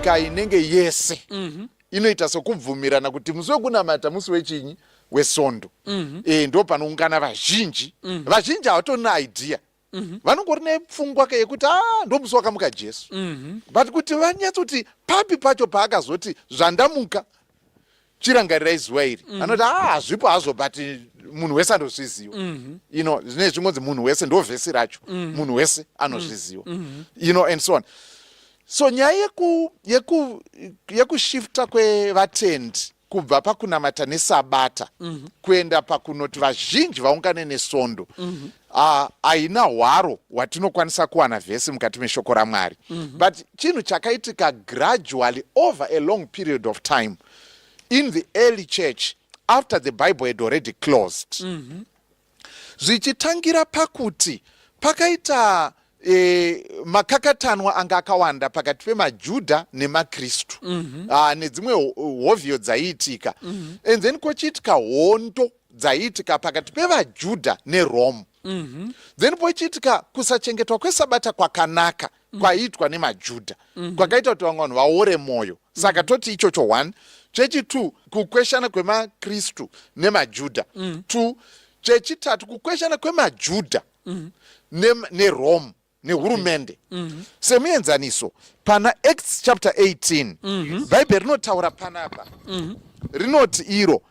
nyika inenge yese mm -hmm. inoita sokubvumirana kuti musi wekunamata musi wechinyi wesondo mm -hmm. e, eh, ndo panoungana vazhinji mm -hmm. vazhinji havatona idea mm -hmm. vanongori nepfungwa ke yekuti a ah, ndomusi wakamuka jesu mm -hmm. but kuti vanyatsoti papi pacho paakazoti zvandamuka chirangarirai zuva iri mm -hmm. anoti a ah, hazvipo hazvo but munhu wese anozviziva mm -hmm. you know zvine zvingonzi munhu wese ndo vhesi racho mm -hmm. munhu wese anozviziva mm -hmm. you know and so on so nyaya yeku, yeku, yekushifta kwevatendi kubva pakunamata nesabata mm -hmm. kuenda pakunoti vazhinji vaungane nesondo mm -hmm. haina hwaro hwatinokwanisa kuwana vhesi mukati meshoko ramwari mm -hmm. but chinhu chakaitika gradually over a long period of time in the early church after the bible had already closed mm -hmm. zvichitangira pakuti pakaita e, makakatanwa anga akawanda pakati pemajudha nemakristu mm -hmm. Ah, nedzimwe hovhiyo dzaiitika mm -hmm. and then kochiitika hondo dzaiitika pakati pevajudha nerome mm -hmm. then pochiitika kusachengetwa kwesabata kwakanaka mm -hmm mm. kwaiitwa nemajudha mm-hmm. kwakaita kuti vamwe vanhu vaore mwoyo saka mm. toti ichocho one chechitwo kukweshana kwemakristu nemajudha mm. two chechitatu kukweshana kwemajudha mm. nerome nehurumende mm-hmm. semuenzaniso pana acts chapter 18 bhaibheri rinotaura panapa rinoti iro mm-hmm.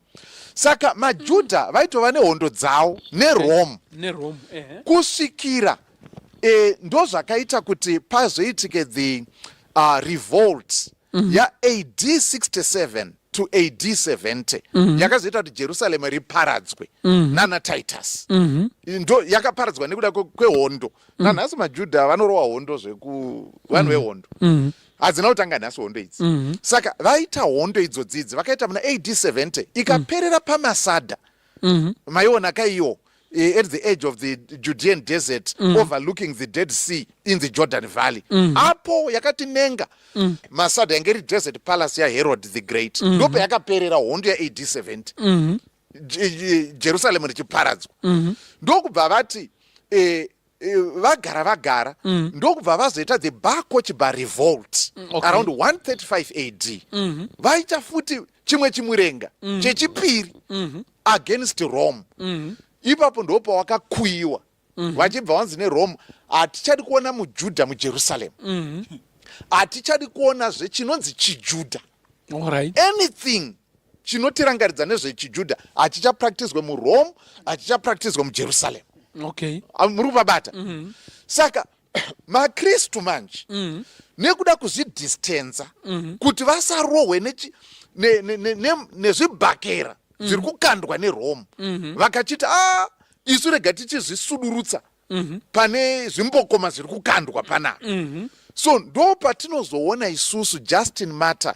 saka majudha mm. vaitova nehondo dzawo nerome nerome eh. kusvikira eh, ndozvakaita kuti pazoitike the uh, revolt mm -hmm. ya ad 67 to ad 70 mm -hmm. yakazoita kuti jerusalem riparadzwe mm -hmm. nana titus mm -hmm. ndo yakaparadzwa nekuda kwehondo mm -hmm. nanhasi majudha vanorowa hondo zveku vanhu mhm. vehondo mm -hmm. hadzina kutanga nhasi hondo idzi mm -hmm. saka vaita hondo idzo dzidzi vakaita muna ad 70 ikaperera mm. pamasada mm -hmm. maiona kaiwo eh, at the edge of the judean desert mm. overlooking the dead sea in the jordan valley mm. apo yakatinenga mm. masada yange iri desert palace yaherod the great mm. ndope yakaperera hondo ya ad 70 mm. jerusalemu richiparadzwa mhm. ndokubva vati eh, eh, vagara vagara mhm. ndokubva vazoita the bakochba revolt mm, around 135 ad mhm. vaita futi chimwe chimurenga chechipiri against rome ipapo ndopawakakuyiwa mhm. vachibva vanzi nerome hatichadi kuona mujudha mujerusaremu mhm. hatichadi kuonazve chinonzi chijudha anything chinotirangaridza nezvechijudha hachichapractiswe murome hachichapractiswe mujerusaremu ah, muri kuvabata mhm. saka makristu manje mm. nekuda kuzvidistenza mm. kuti vasarohwe nezvibhakera ne, ne, ne, mm. zviri kukandwa nerome mm -hmm. vakachiti a ah, isu rega tichizvisudurutsa mm -hmm. pane zvimbokoma zviri kukandwa panapa mm -hmm. so ndo patinozoona isusu justin matter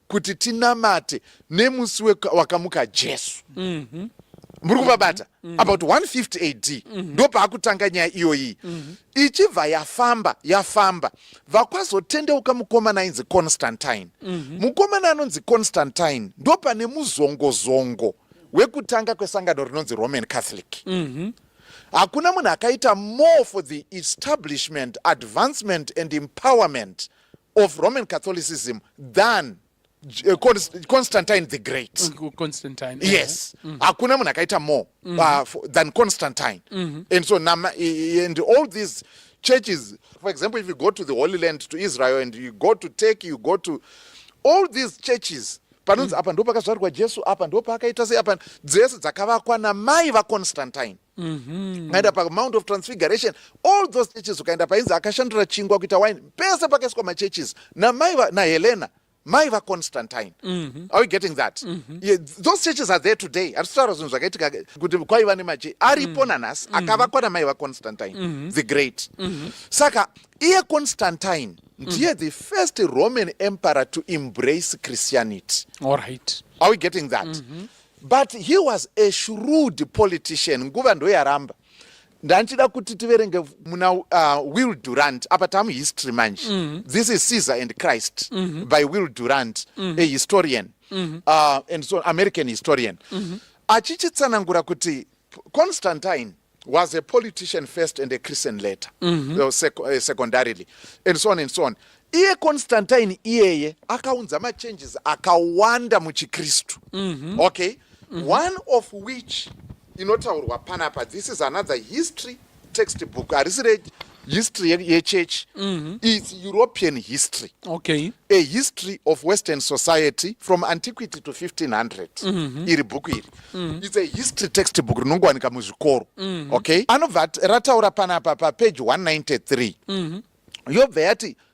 kuti tinamate nemusi wakamuka jesu mm -hmm. muri kuvabata mm -hmm. about 150 ad mm -hmm. ndopaakutanga nyaya iyoyi mm -hmm. ichibva yafamba yafamba vakwazotendeuka mukomana ainzi constantine mm -hmm. mukomana anonzi constantine ndopane muzongozongo wekutanga kwesangano rinonzi roman catholic mm -hmm hakuna munhu akaita more for the establishment advancement and empowerment of Roman Catholicism than uh, Constantine the Great. Mm, Constantine. Yes. Eh? Mm. Hakuna mm. munhu akaita more mm. uh, for, than Constantine. Mm -hmm. And so nama, and all these churches, for example, if you go to the Holy Land to Israel and you go to Turkey, you go to all these churches panonzi mm. apa ndo pakazvarwa Jesu apa ndo paakaita sei apa dzese dzakavakwa namai vaConstantine. Mhm. ukaenda pamount of transfiguration all those churches ukaenda painzi akashandura chingwa kuita wine pese pakaiswa machurches namai va- nahelena mai vaconstantine Mhm. are you getting that Yeah, those churches are there today hatisitaura zvinhu zvakaitika kuti kwaiva nemache aripo nanhasi akavakwa namai vaconstantine the great saka iye constantine ndiye the first roman emperor to embrace christianity All right. are we getting that but he was a shrewd politician nguva ndoyaramba ndandichida kuti tiverenge muna uh, will durant apa tamuhistory manje mm -hmm. this is caesar and christ mm -hmm. by will durant mm -hmm. a historian mm -hmm. uh, and so american historian mm -hmm. achichitsanangura kuti Constantine was a politician first and a Christian later, mm -hmm. sec uh, secondarily, and so on and so on. Iye Constantine iyeye akaunza machanges akawanda muchiKristu. Mm -hmm. Okay? Mm -hmm. One of which inotaurwa panapa, this is another history text book harisi re history yechurch mm -hmm. its european history okay. a history of western society from antiquity to 1500 mm -hmm. iri bhuku iri mm -hmm. its a history text book rinongowanika muzvikoro mm -hmm. okay anobva rataura panapa papeji 193 mm -hmm. yobva yati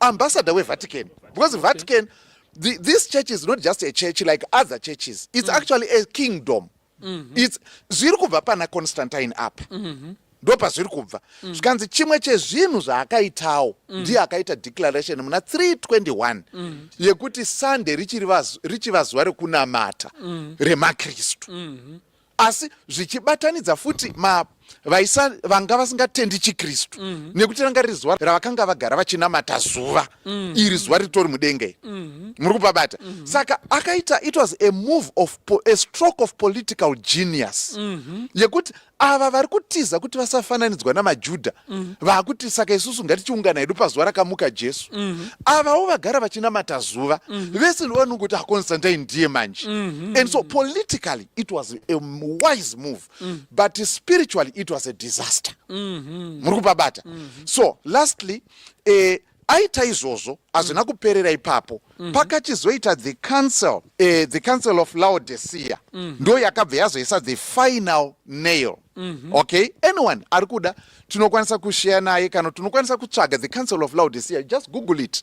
ambassador wevatican because vatican the, this church is not just a church like other churches it's mm. actually a kingdom mm -hmm. it's zviri kubva pana constantine up mm -hmm ndo pazviri kubva mm. zvikanzi chimwe chezvinhu zvaakaitawo mm. ndiye akaita declaration muna 321 mm. yekuti sunday richiva zuva rekunamata mm. remakristu mm-hmm. asi zvichibatanidza futi ma vaisa vanga vasingatendi chikristu mm -hmm. nekuti ranga riri zuva ravakanga vagara vachinamata zuva mm -hmm. iri zuva ritori mudenga iri mm -hmm. muri kupabata mm -hmm. saka akaita it was a move of a stroke of political genius mm -hmm. yekuti ava vari kutiza kuti vasafananidzwa namajudha mm -hmm. vaakuti saka isusu ngatichiungana hedu pazuva rakamuka jesu mm -hmm. avawo vagara vachinamata zuva mm -hmm. vese ndovanongokuti aconstantine ndiye manje mm -hmm. and so politically it was a wise move mm. but spiritually it was a disaster mm-hmm. muri kupabata mm -hmm. so lastly eh, aita izvozvo hazvina mm. kuperera ipapo mm -hmm. pakachizoita the council eh, the council of laodicea mm -hmm. ndo yakabva yazoisa the final nail mm -hmm. okay anyone ari kuda tinokwanisa kushare naye kana tinokwanisa kutsvaga the council of laodicea just google it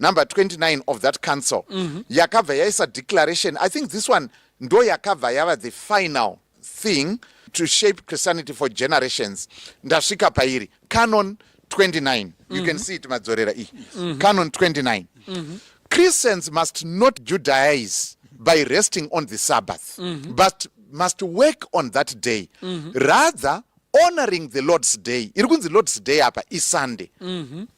number 29 of that council mm -hmm. yakabva yaisa declaration i think this one ndo yakabva yava the final thing to shape christianity for generations ndasvika pairi canon 29 mm -hmm. you can mhm. see it madzorera iyi mm -hmm. canon 29 mm -hmm. christians must not judaize by resting on the sabbath mm -hmm. but must work on that day mm -hmm. rather honoring the lord's day iri kunzi lord's day apa isunday mm -hmm.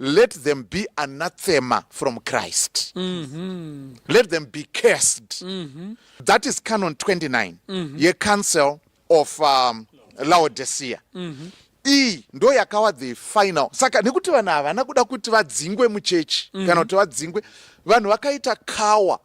let them be anathema from christ mm -hmm. let them be cursed mm -hmm. that is canon 29 mm -hmm. yecouncil of um, laodicea mm -hmm iyi ndo yakawa the final saka nekuti vanhu havana kuda kuti vadzingwe muchechi mm -hmm. kana kuti vadzingwe vanhu vakaita kawa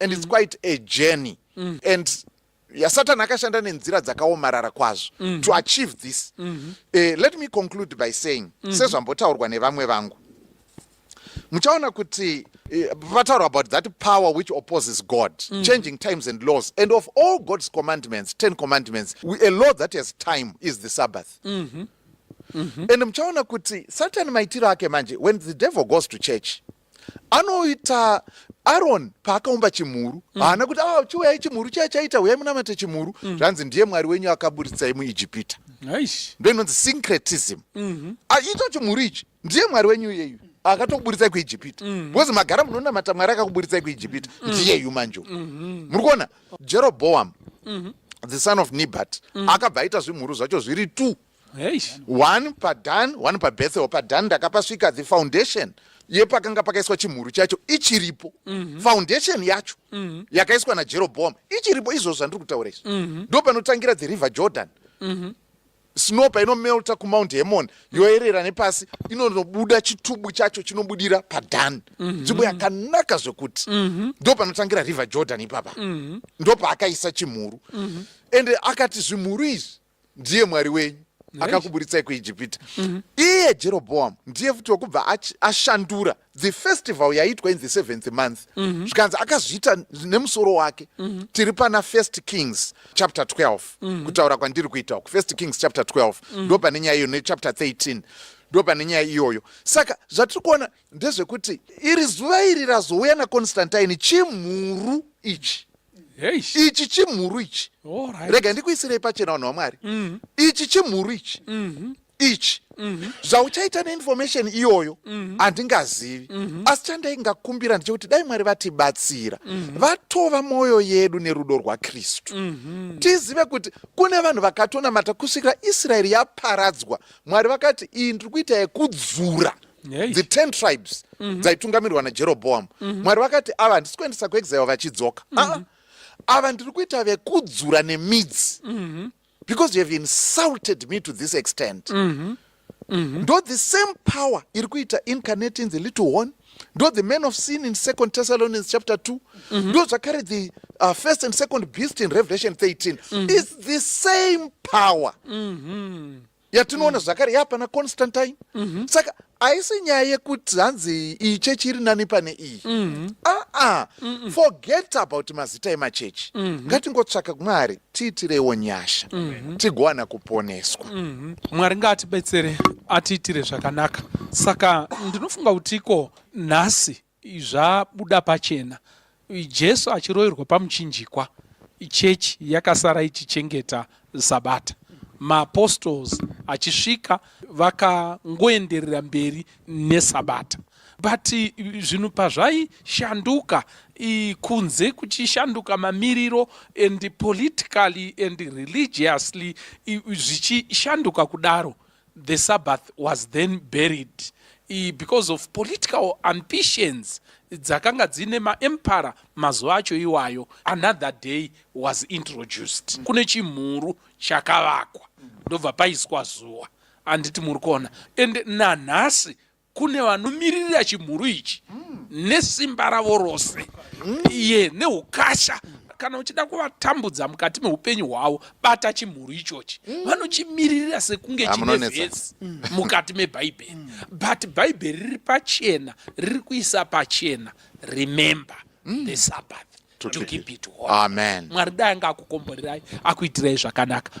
and it's mm. quite a journey mm. and yasatani akashanda nenzira dzakaomarara kwazvo mm. to achieve this mm -hmm. uh, let me conclude by saying mm -hmm. sezvambotaurwa nevamwe vangu muchaona kuti eh, vataura about that power which opposes god mm. changing times and laws and of all god's commandments 10 commandments we, a law that has time is the sabbath mm -hmm. Mm -hmm. and muchaona kuti satan maitiro ake manje when the devil goes to church anoita aron paakaumba chimhuru mm. haana kuti ah, chiuyai chimhuru chaya chaita huyai munamate chimhuru mm. zvanzi ndiye mwari wenyu akaburitsai muijipita ndo inonzi syncretism mm-hmm. ah, ito chimhuru ichi ndiye mwari wenyu iyeyu akatokuburitsai kuijipita mm-hmm. because magara munonamata mwari akakuburitsai kuijipita mm. ndiyeyu manjo mm-hmm. muri kuona jeroboam the son of nibat akabva aita zvimhuru zvacho zviri two Eish. one padan one pabethel padan ndakapasvika the foundation yepakanga pakaiswa chimhuru chacho ichiripo foundation yacho yakaiswa najeroboam ichiripo izvozvo zvandiri kutaura izvi ndo panotangira the river jordan snow painomelta kumount hermon yoerera nepasi inonobuda chitubu chacho chinobudira padan nzvimbo yakanaka zvekuti ndo panotangira river jordan ipapa ndo paakaisa chimhuru ende akati zvimhuru izvi ndiye mwari wenyu akakuburitsai kuijipita mhm. iye jeroboam ndiye futi wekubva ashandura the festival yaitwa in the seventh month mhm. zvikanzi akazviita nemusoro wake mhm. tiri pana first kings chapter 12 kutaura kwandiri kuita uku first kings chapter 12 ndo pane nyaya iyo nechapter 13 ndo pane nyaya iyoyo saka zvatiri kuona ndezvekuti iri zuva iri razouya naconstantine chimhuru ichi ichi chimhuru ichi rega ndikuisirei pachena vanhu vamwari mm. ichi chimhuru ichi mm-hmm. ichi mm-hmm. zvauchaita neinformation iyoyo mm-hmm. handingazivi asi chandaingakumbira ndechekuti dai mwari vatibatsira vatova mwoyo yedu nerudo rwakristu tizive kuti kune vanhu vakatonamata kusvikira israeri yaparadzwa mwari vakati iyi ndiri kuita yekudzura the ten tribes mhm. dzaitungamirwa najeroboamu mhm. mwari vakati ava handisi kuendesa kuexile vachidzoka mhm. ah, ava ndiri kuita vekudzura nemidzi because you have insulted me to this extent ndo the same power iri kuita incarnating the little one ndo the man of sin in second thessalonians chapter 2 mm -hmm. ndo zvakare the uh, first and second beast in revelation 13 mm -hmm. its the same power mm -hmm. yatinoona mm. zvakare yapana constantine mm -hmm. saka haisi nyaya yekuti hanzi iyi chechi iri nani pane iyi mm -hmm. aa ah, ah. mm -mm. forget about mazita emachechi mm -hmm. ngatingotsvaka kumwari tiitirewo nyasha mhm. tigowana kuponeswa mhm. mwari ngaatibetsere atiitire zvakanaka saka ndinofunga kuti ko nhasi zvabuda pachena jesu achiroverwa pamuchinjikwa chechi yakasara ichichengeta sabata maapostles achisvika vakangoenderera mberi nesabata but zvinhu pazvaishanduka kunze kuchishanduka mamiriro and politically and religiously zvichishanduka kudaro the sabbath was then buried because of political ambitions dzakanga dzine maempara mazuva acho iwayo another day was introduced mm. kune chimhuru chakavakwa ndobva paiswa zuva anditi muri kuona and nanhasi kune vanomiririra chimhuru ichi nesimba ravo rose iye neukasha kana uchida kuvatambudza mukati meupenyu hwavo bata chimhuru ichochi vanochimiririra sekunge chine vhesi mukati mebhaibheri but bhaibheri riri pachena riri kuisa pachena remember the sabbath to keep it holy mwari dai anga akukomborerai akuitirai zvakanaka